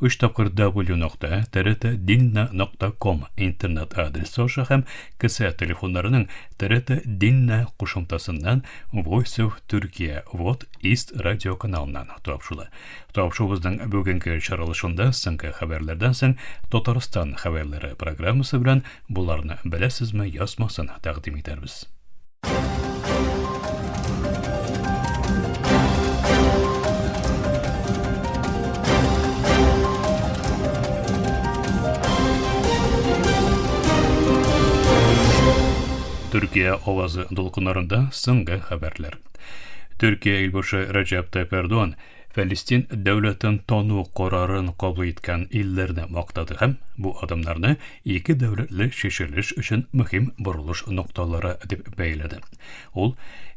Өч тапкыр W нокта трт динна нокта ком интернет адресы аша һәм кесә телефоннарының трт динна кушымтасыннан Voice of Turkey вот East радио каналыннан тапшыла. Тапшуыбызның бүгенге чаралышында соңгы хәбәрләрдән соң Татарстан хәбәрләре программасы белән боларны беләсезме язмасын тәкъдим итәрбез. Төркия авазы дулкыннарында соңгы хәбәрләр. Төркия илбашы Рәҗәп Тәйп Эрдоган Фәлестин дәүләтен тану карарын кабул иткән илләрне мактады һәм бу адымнарны ике дәүләтле чишелеш өчен мөһим борылыш нокталары дип бәяләде. Ул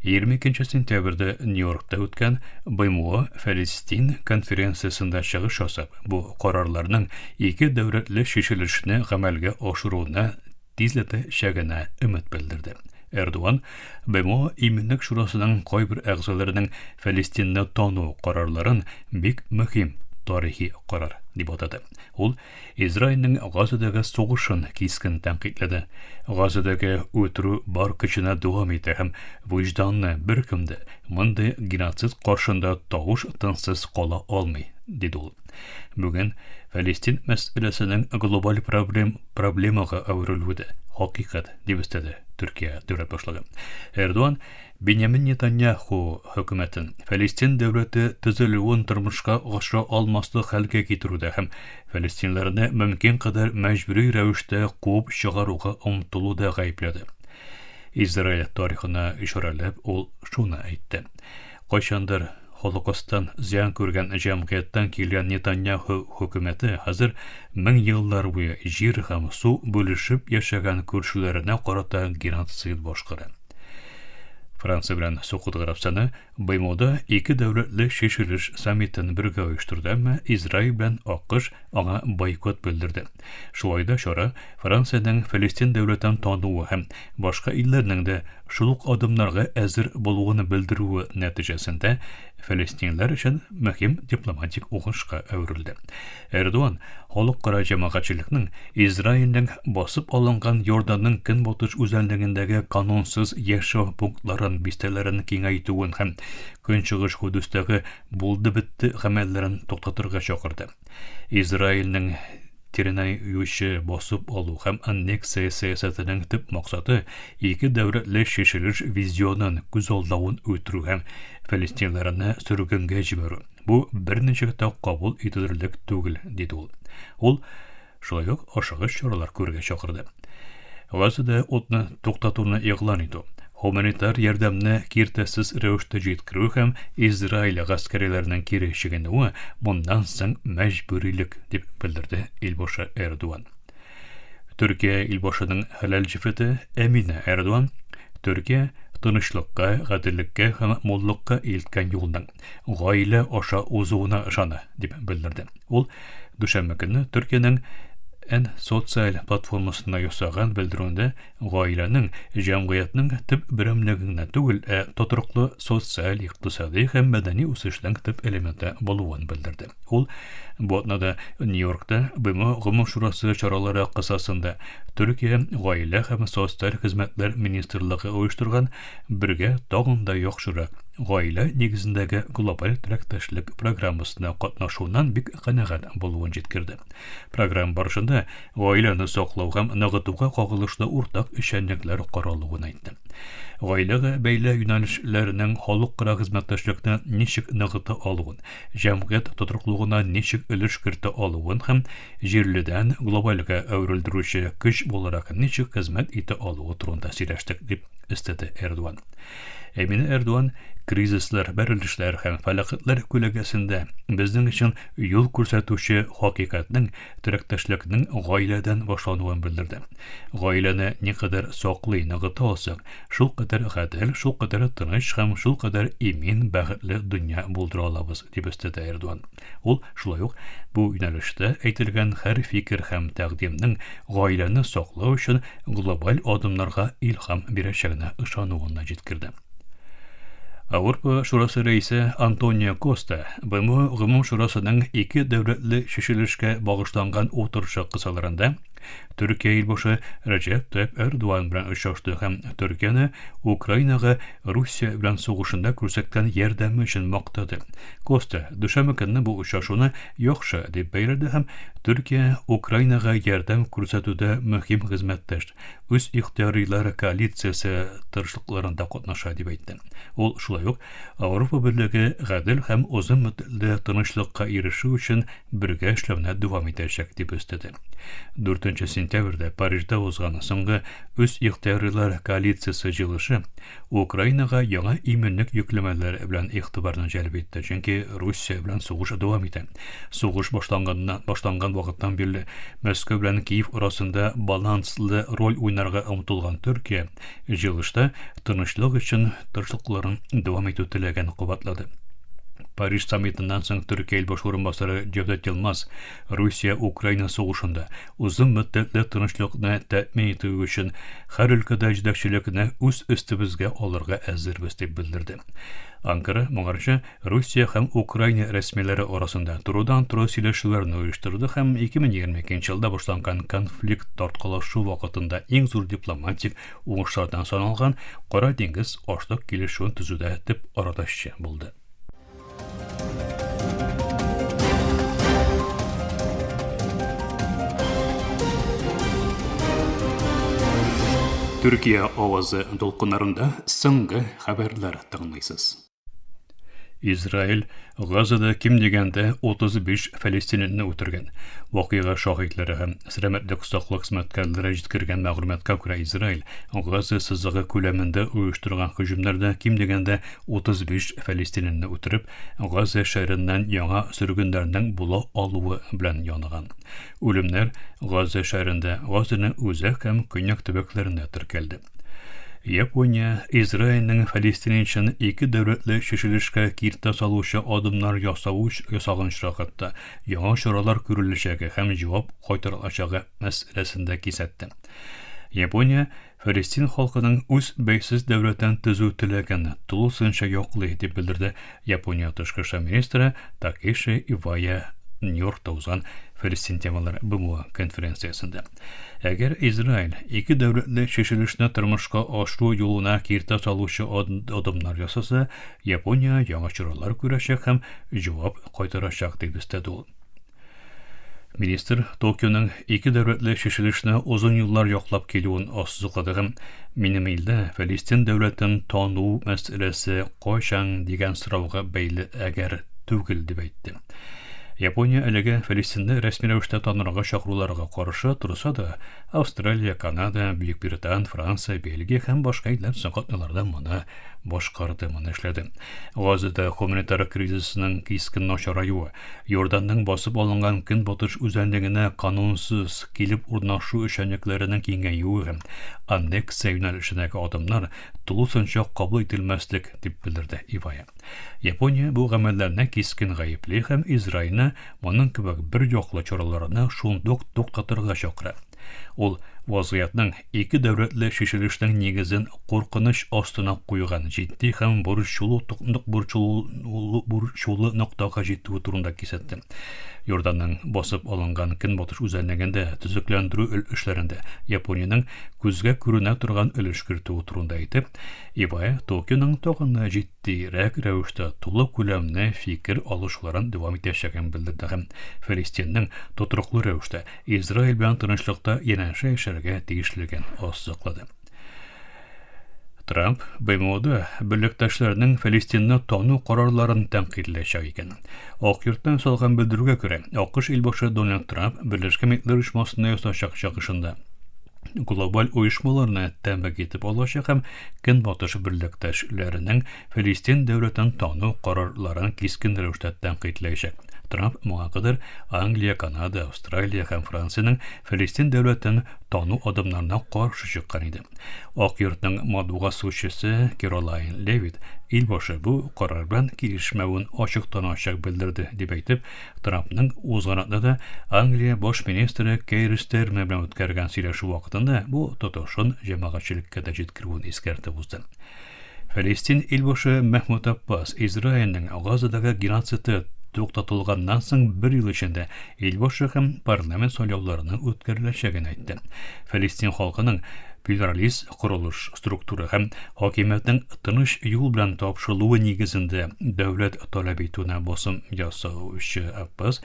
22 сентябрьдә Нью-Йоркта үткән БМО Фәлестин конференциясендә чыгыш ясап, бу карарларның ике дәүләтле чишелешне гамәлгә ашыруны тизләтә чәгенә өмет белдерде. Эрдуан БМО иминлек шурасының кайбер әгъзаларының Фәлестинны тану карарларын бик мөһим тарихи карар дип атады. Ул Израильнең Газадагы сугышын кискен тәнкыйтьләде. Газадагы үтерү бар көченә дәвам итә һәм вөҗданны беркем дә мондый геноцид каршында тавыш тынсыз кала алмый, диде ул. Бүген Фәлестин мәсьәләсенең глобаль проблем, проблемага әверелүе дә хакыйкать, дип өстәде Төркия дәүләт башлыгы. Эрдуан Бенямин Нетаньяху хөкүмәтен Фәлестин дәүләте төзелүен тормышка ашыра алмаслык хәлгә китерүдә һәм фәлестинләрне мөмкин кадәр мәҗбүри рәвештә куып чыгаруга омтылуда гаепләде. Израиль тарихына ишарәләп, ул шуны әйтте. Кайчандыр Холокостан зыян күргән җәмгыятьтән килгән Нетаньяху хөкүмәте хәзер мең еллар буе җир һәм су бүлешеп яшәгән күршеләренә карата геноцид башкара. Франция белән Сукут Гарәбстаны БМОда ике дәүләтле чишелеш саммитын бергә оештырды, әмма Израиль белән АКШ аңа бойкот белдерде. Шулай да чара Франциянең Фәлестин дәүләтен тануы һәм башка илләрнең дә шул ук адымнарга әзер булуын белдерүе нәтиҗәсендә фәлестинләр өчен мөһим дипломатик уңышка әверелде. Эрдоган халыкара җәмәгатьчелекнең Израильнең басып алынган Йорданның көнбатыш үзәнлегендәге канунсыз яшәү пунктларын, бистәләрен киңәйтүен һәм Көнчыгыш Кудустәге булды-бетте гамәлләрен туктатырга чакырды. Израильнең тирене юучы басып алу һәм аннексия сәясәтенең төп максаты ике дәүләтле чишелеш визионын күз алдавын үтерү һәм фәлестинләрне сөргенгә җибәрү. Бу берничек тә кабул ителерлек түгел, диде ул. Ул шулай ук ашыгыч чаралар күрергә чакырды. Газада утны туктатуны игълан итү, гуманитар ярдәмне киртәсез рәвештә җиткерү һәм Израиль гаскәриләренең кире чигенүе моннан соң мәҗбүрилек, дип белдерде Илбашы Эрдуан. Төркия Илбашының хәләл җефете Әминә Эрдуан Төркия тынычлыкка, гаделлеккә һәм муллыкка илткән юлның гаилә аша узуына ышана, дип белдерде. Ул дүшәмбе көнне Төркиянең Н социаль платформасында ясаган белдерүендә гаиләнең җәмгыятьнең төп берәмлеге генә түгел, ә тотрыклы социаль, икътисади һәм мәдәни үсешнең төп элементы булуын белдерде. Ул бу атнада Нью-Йоркта БМО Гомум шурасы чаралары кысасында Төркия гаилә һәм социаль хезмәтләр министрлыгы оештырган Бергә тагын да яхшырак, гаилә нигезендәге глобаль теләктәшлек программасына катнашуыннан бик канәгать булуын җиткерде. Программа барышында гаиләне саклау һәм ныгытуга кагылышлы уртак эшчәнлекләр каралуын әйтте. Гаиләгә бәйле юнәлешләрнең халыкара хезмәттәшлекне ничек ныгыта алуын, җәмгыять тотрыклыгына ничек өлеш кертә алуын һәм җирледән глобальгә әверелдерүче көч буларак ничек хезмәт итә алуы турында сөйләштек, дип өстәде Эрдуан. Эмине Эрдуан кризислар, бәрелешләр һәм фәләкатьләр күләгәсендә безнең өчен юл күрсәтүче хакыйкатьнең, терәктәшлекнең гаиләдән башлануын белдерде. Гаиләне никадәр саклый, ныгыта алсак, Шулкадәр гадел, шулкадәр тыныч һәм шулкадәр имин, бәхетле дөнья булдыра алабыз, дип өстәде Эрдуан. Ул шулай ук бу юнәлештә әйтелгән һәр фикер һәм тәкъдимнең гаиләне саклау өчен глобаль адымнарга илһам бирәчәгенә ышануын да җиткерде. Авропа шурасы рәисе Антонио Коста БМО Гомум шурасының ике дәүләтле чишелешкә багышланган утырышы кысаларында Төркия илбашы Рәҗәп Тәйп Эрдуан белән очрашты һәм Төркияне Украинага Русия белән сугышында күрсәткән ярдәме өчен мактады. Коста дүшәмбе көнне бу очрашуны яхшы дип бәяләде һәм Төркия Украинага ярдәм күрсәтүдә мөһим хезмәттәш, үз ихтыярыйлар коалициясе тырышлыкларында катнаша дип әйтте. Ул шулай ук Авропа берлеге гадел һәм озын мөддатле тынычлыкка ирешү өчен бергә эшләүне дәвам итәчәк, дип өстәде. 4 сентябрьдә Парижда узган соңгы үз ихтыярлылар коалициясе җыелышы Украинага яңа иминлек йөкләмәләре белән игътибарны җәлеп итте, чөнки Русия белән сугыш дәвам итә. Сугыш башланганнан башланган вакыттан бирле Мәскәү белән Киев арасында баланслы роль уйнарга омтылган Төркия Җыелышта тынычлык өчен тырышлыкларын дәвам итү теләген кабатлады. Париж саммитыннан соң Төркия илбаш урынбасары Җевдет Йылмаз Русия-Украина сугышында озын мөддәтле тынычлыкны тәэмин итү өчен һәр өлкәдә җитәкчелекне үз өстебезгә алырга әзербез дип белдерде. Анкара моңарчы Русия һәм Украина рәсмиләре арасында турыдан-туры сөйләшүләрне оештырды һәм 2022 елда башланган конфликт тарткалашу вакытында иң зур дипломатик уңышлардан саналган Кара диңгез ашлык килешүен төзүдә төп арадашчы булды. Төркия авазы дулкыннарында соңгы хәбәрләр тыңлыйсыз. Израиль Газада ким дигәндә 35 фәлестининне үтергән. Вакыйга шаһитләре һәм сәламәтлек саклык хезмәткәрләре җиткергән мәгълүматка күрә Израиль Газа сызыгы күләмендә оештырган һөҗүмнәрдә ким дигәндә 35 фәлестининне үтереп, Газа шәһәреннән яңа сөргеннәрнең була алуы белән яныган. Үлемнәр Газа шәһәрендә, Газаның үзәк һәм көньяк төбәкләрендә теркәлде. Япония Израильнең фалестинчан ике дәүләтле чишелешкә киртә салучы адымнар ясавы ясаган чакытта яңа чаралар күреләчәге һәм җавап кайтарылачагы мәсьәләсендә кисәтте. Япония Фәлестин халкының үз бәйсез дәүләтен төзү теләген тулысынча яклый, дип белдерде Япония тышкы эшләр министры Такеши Ивая Нью-Йоркта узган Фәлестин темалар БМО конференциясендә. Әгәр Израиль ике дәүләтле чишелешне тормышка ашыру юлына киртә салучы адымнар ясаса, Япония яңа чаралар күрәчәк һәм җавап кайтарачак, дип өстәде ул. Министр Токионың ике дәүләтле чишелешне озын юллар яклап килүен ассызыклады һәм минем илдә Фәлестин дәүләтен тану мәсьәләсе кайчан дигән сорауга бәйле әгәр түгел дип әйтте. Япония әлегә Фәлестинне рәсми рәвештә танырга чакыруларга каршы торса да, Австралия, Канада, Бөекбритан, Франция, Бельгия һәм башка илләр соң катналарда моны башкарды, моны эшләде. Газада гуманитар кризисның кискен начараюы, Йорданның басып алынган көнбатыш үзәнлегенә канунсыз килеп урнашу эшчәнлекләренең киңәюе һәм аннексия юнәлешендәге адымнар тулысынча кабул ителмәслек, дип белдерде Ивая. Япония бу гамәлләрне кискен гаепли һәм Израильне моның кебек бер яклы чараларны шундук туктатырга чакыра. Ул вазгыятьнең Ике дәүләтле чишелешнең нигезен куркыныч астына куйган җитди һәм борчулы борчулы ноктага җитүе турында кисәтте. Иорданның басып алынган көнбатыш үзәнлегендә төзекләндерү эшләрендә Япониянең күзгә күренә торган өлеш кертүе турында әйтеп, Ибае Токионың тагын да җитдирәк рәвештә тулы күләмле фикер алышуларын дәвам итәчәген белдерде һәм Фәлестиннең тотрыклы рәвештә Израиль белән тынычлыкта янәшә яшәргә тиешлеген ассыклады. Трамп БМОда берлектәшләренең Фәлестинны тану карарларын тәнкыйтьләячәк икән. Ак йорттан салган белдерүгә күрә, АКШ илбашы Дональд Трамп Берләшкән Милләтләр оешмасында ясачак чыгышында глобаль оешмаларны тәмбәк итеп алачак һәм көнбатыш берлектәшләренең Филистин дәүләтен тану карарларын кискен рәвештә тәнкыйтьләячәк. Трамп моңа кадәр Англия, Канада, Австралия һәм Франциянең Филистин дәүләтен тану адымнарына каршы чыккан иде. Ак йортның матбугат сузучысы Керолайн Левит ил башы бу карар белән килешмәвен ачыктан-ачык белдерде, дип әйтеп, Трампның узган атнада Англия баш министры Кейр Стермер белән үткәргән сөйләшү вакытында бу тотышын җәмәгатьчелеккә дә җиткерүен искәртеп узды. Фәлестин илбашы Мәхмүд Аппас Израильнең Газадагы геноциды туктатылганнан соң бер ел эчендә илбашы һәм парламент сайлауларының үткәреләчәген әйтте. Фәлестин халкының плюралист корылыш структура һәм хакимиятнең тыныч юл белән тапшырылуы нигезендә дәүләт таләп итүенә басым ясаучы Аппас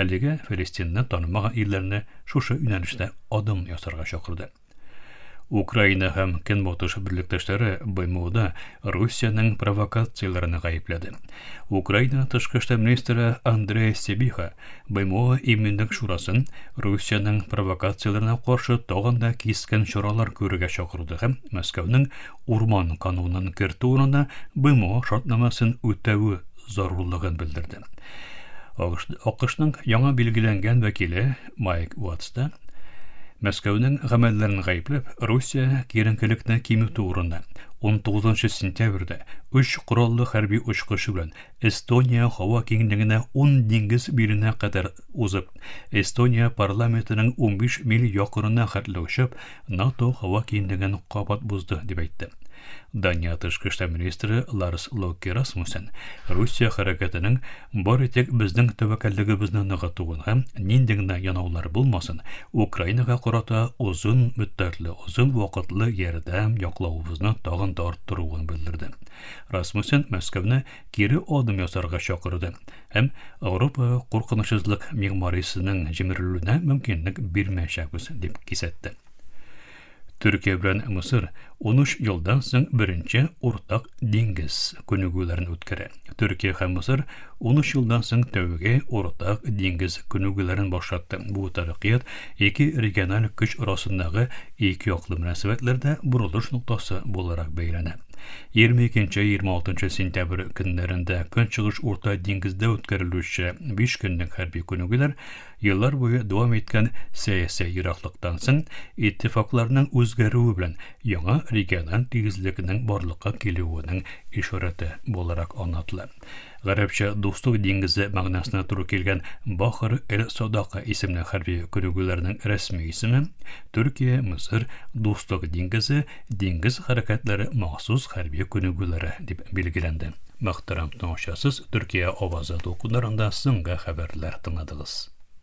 әлеге Фәлестинне танымаган илләрне шушы юнәлештә адым ясарга чакырды. Украина һәм Көнбатыш берлектәшләре БМОда Русиянең провокацияләрен гаепләде. Украина тышкы эшләр министры Андрей Сибиха БМО иминлек шурасын Русиянең провокацияләренә каршы тагын да кискен чаралар күрергә чакырды һәм Мәскәүнең урман канунын кертү урынына БМО шартнамасын үтәве зарурлыгын белдерде. АКШның яңа билгеләнгән вәкиле Майк Уотс та, Мәскәүнең гамәлләрен гаепләп, Русия киеренкелекне кимүтү урында, 19 сентябрьдә өч кораллы хәрби очкышы белән Эстония һава киңлегенә 10 диңгез миленә кадәр узып, Эстония парламентының 15 миль якынына хәтле очып, НАТО һава киңлеген кабат бозды, дип әйтте. Дания тышкы эшләр министры Ларс Локе Расмуссен Русия хәрәкәтенең бары тик безнең тәвәккәллегебезне ныгытуын һәм нинди генә янаулар булмасын, Украинага карата озын мөддәтле, озын вакытлы ярдәм яклавыбызны тагын да арттыруын белдерде. Расмуссен Мәскәүне кире адым ясарга чакырды һәм Ауропа куркынычсызлык мигмарисының җимерелүенә мөмкинлек бирмәячәкбез дип кисәтте. Төркия белән Мисыр 13 елдан соң беренче уртак диңгез күнегүләрен үткәрә. Төркия һәм Мисыр 13 елдан соң тәүге уртак диңгез күнегүләрен башлатты. Бу тарихият ике региональ көч арасындагы ике яклы мөнәсәбәтләрдә борылыш ноктасы буларак бәяләнә. 22-26 сентябрь көннәрендә Көнчыгыш Урта диңгездә үткәрелүче биш көнлек хәрби күнегүләр еллар буе дәвам иткән сәяси ераклыктан соң иттифакларның үзгәрүе белән яңа региональ тигезлекнең барлыкка килүенең ишарәте буларак аңлатыла. Гарәпчә Дуслык диңгезе мәгънәсенә туры килгән Бахр эль-Садака исемле хәрби күнегүләрнең рәсми исеме, Төркия, Мисыр, Дуслык диңгезе, диңгез хәрәкәтләре махсус хәрби күнегүләре, дип билгеләнде. Мөхтәрәм тыңлаучысыз Төркия авазы дулкыннарында соңгы хәбәрләр тыңладыгыз.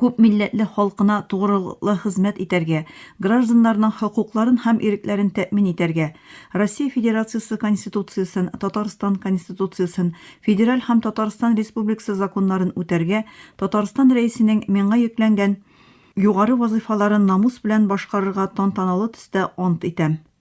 күп милләтле халкына тугрылыклы хезмәт итәргә, гражданнарның хокукларын һәм ирекләрен тәэмин итәргә, Россия Федерациясе Конституциясен, Татарстан Конституциясен, федераль һәм Татарстан Республикасы законнарын үтәргә, Татарстан Рәисенең миңа йөкләнгән югары вазыйфаларын намус белән башкарырга тантаналы төстә ант итәм.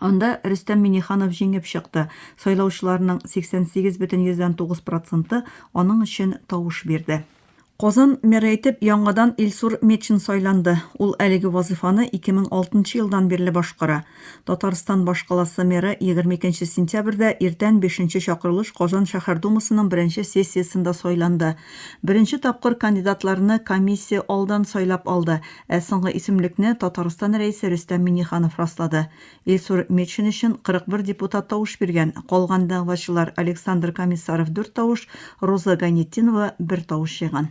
Анда Рөстәм Миңнеханов җиңеп чыкты. Сайлаучыларның 88,9 проценты аның өчен тавыш бирде. Казан мэры итеп яңадан Илсур Метшин сайланды. Ул әлеге вазыйфаны 2006 елдан бирле башкара. Татарстан башкаласы мэры 22 сентябрьдә иртән бишенче чакырылыш Казан шәһәр Думасының беренче сессиясендә сайланды. Беренче тапкыр кандидатларны комиссия алдан сайлап алды. Ә соңгы исемлекне Татарстан Рәисе Рөстәм Миңнеханов раслады. Илсур Метшин өчен 41 депутат тавыш биргән, калган дәгъвачылар Александр Комиссаров дүрт тавыш, Руза Гайнетдинова бер тавыш җыйган.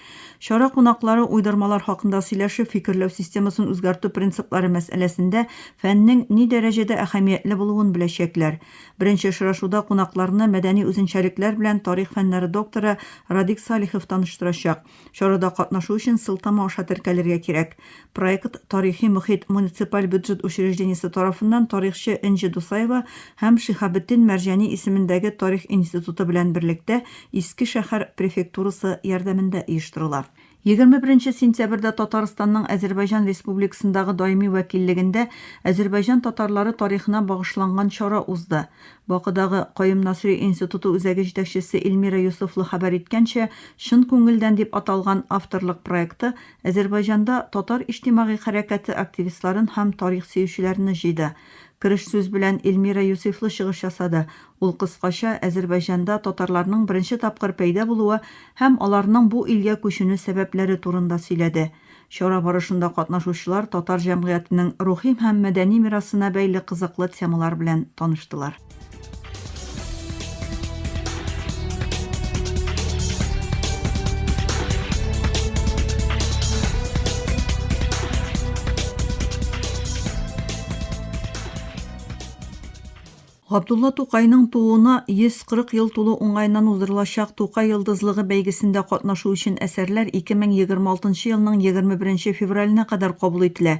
Чара кунаклары уйдырмалар хакында сөйләшеп, фикерләү системасын үзгәртү принциплары мәсьәләсендә фәннең ни дәрәҗәдә әһәмиятле булуын беләчәкләр. Беренче очрашуда кунакларны мәдәни үзенчәлекләр белән тарих фәннәре докторы Радик Салихов таныштырачак. Чарада катнашу өчен сылтама аша теркәлергә кирәк. Проект Тарихи мохит муниципаль бюджет учреждениесе тарафыннан тарихчы Энҗе Дусаева һәм Шиһабетдин Мәрҗани исемендәге тарих институты белән берлектә Иске шәһәр префектурасы ярдәмендә оештырыла. Егерме беренче сентябрьдә Татарстанның Азәрбайҗан Республикасындагы даими вәкиллегендә Азәрбайҗан татарлары тарихына багышланган чара узды. Бакыдагы Каюм Насыйри институты үзәге җитәкчесе Эльмира Йосыфлы хәбәр иткәнчә, Чын күңелдән дип аталган авторлык проекты Әзербайҗанда татар иҗтимагый хәрәкәте активистларын һәм тарих сөючеләрне җыйды. Кереш сүз белән Эльмира Юсыйфлы чыгыш ясады. Ул кыскача Әзербайҗанда татарларның беренче тапкыр пәйда булуы һәм аларның бу илгә күченү сәбәпләре турында сөйләде. Чара барышында катнашучылар татар җәмгыятенең рухи һәм мәдәни мирасына бәйле кызыклы темалар белән таныштылар. Габдулла Тукайның тууына 140 ел тулу уңаеннан уздырылачак Тукай йолдызлыгы бәйгесендә катнашу өчен әсәрләр 2026 елның 21 февраленә кадәр кабул ителә.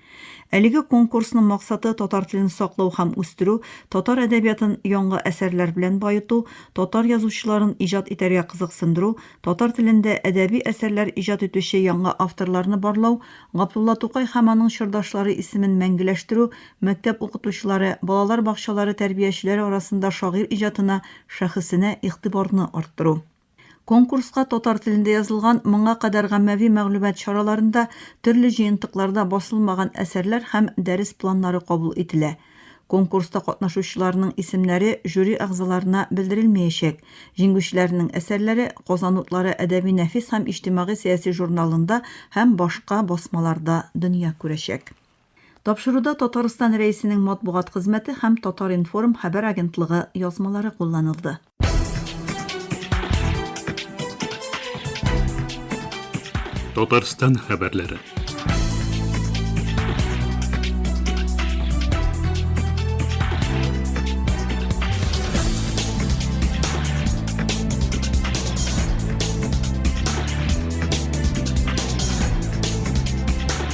Әлеге конкурсның максаты татар телен саклау һәм үстерү, татар әдәбиятын яңгы әсәрләр белән баету, татар язучыларын иҗат итәргә кызыксындыру, татар телендә әдәби әсәрләр иҗат итүче яңа авторларны барлау, Габдулла Тукай һәм аның чордашлары исемен мәңгеләштерү, мәктәп укытучылары, балалар бакчалары тәрбиячеләре арасында шагыйрь иҗатына, шәхесенә игътибарны арттыру. Конкурска татар телендә язылган моңа кадәр гаммәви мәгълүмат чараларында, төрле җыентыкларда басылмаган әсәрләр һәм дәрес планнары кабул ителә. Конкурста катнашучыларның исемнәре жюри әгъзаларына белдерелмәячәк. Җиңгүчеләрнең әсәрләре Казан утлары әдәби-нәфис һәм иҗтимагый-сәяси журналында һәм башка басмаларда дөнья күрәчәк. Тапшыруда Татарстан Рәисенең матбугат хезмәте һәм Татар-информ хәбәр агентлыгы язмалары кулланылды. Татарстан хәбәрләре.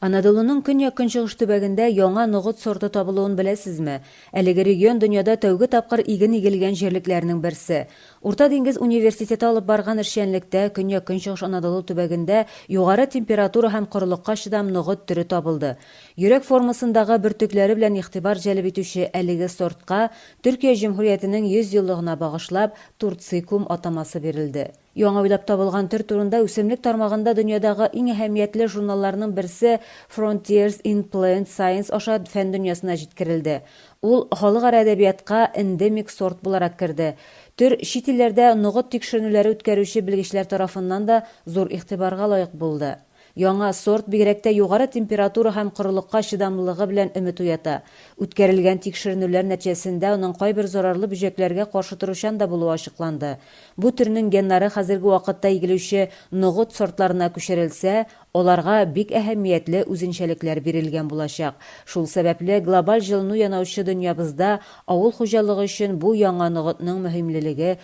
Анадолуның көньяк-көнчыгыш төбәгендә яңа ногыт сорты табылуын беләсезме? Әлеге регион дөньяда тәүге тапкыр иген игелгән җирлекләрнең берсе. Урта диңгез университеты алып барган эшчәнлектә Көньяк-Көнчыгыш Анадолу төбәгендә югары температура һәм корылыкка чыдам ногыт төре табылды. Йөрәк формасындагы бөртекләре белән игътибар җәлеп итүче әлеге сортка Төркия Җөмһүриятенең 100 еллыгына багышлап Турцикум атамасы бирелде. Яңа уйлап табылган төр турында үсемлек тармагында дөньядагы иң әһәмиятле журналларның берсе Frontiers in Plant Science аша фән дөньясына җиткерелде. Ул халыкара әдәбиятка эндемик сорт буларак керде. Төр чит илләрдә ногыт тикшеренүләре үткәрүче белгечләр тарафыннан да зур игътибарга лаек булды. Яңа сорт бигрәк тә югары температура һәм корылыкка чыдамлылыгы белән өмет уята. Үткәрелгән тикшеренүләр нәтиҗәсендә аның кайбер зарарлы бөҗәкләргә каршы торучан да булуы ачыкланды. Бу төрнең геннары хәзерге вакытта игелүче ногыт сортларына күчерелсә, аларга бик әһәмиятле үзенчәлекләр бирелгән булачак. Шул сәбәпле, глобаль җылыну янаучы дөньябызда авыл хуҗалыгы өчен бу яңа ногытның мөһимлелеге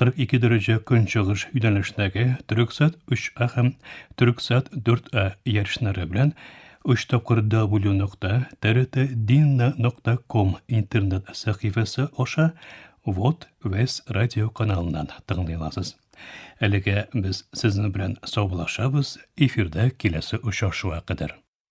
42 дәрәҗә көнчыгыш юнәлешнәге Төрексат 3А һәм Төрексат 4А ярышлары белән 3 тапкыр W нокта TRT Dinna нокта ком интернет сәхифәсе аша Вот Вес радио каналыннан тыңлый аласыз. Әлегә без сезнең белән саубулашабыз, эфирдә киләсе очрашуга кадәр.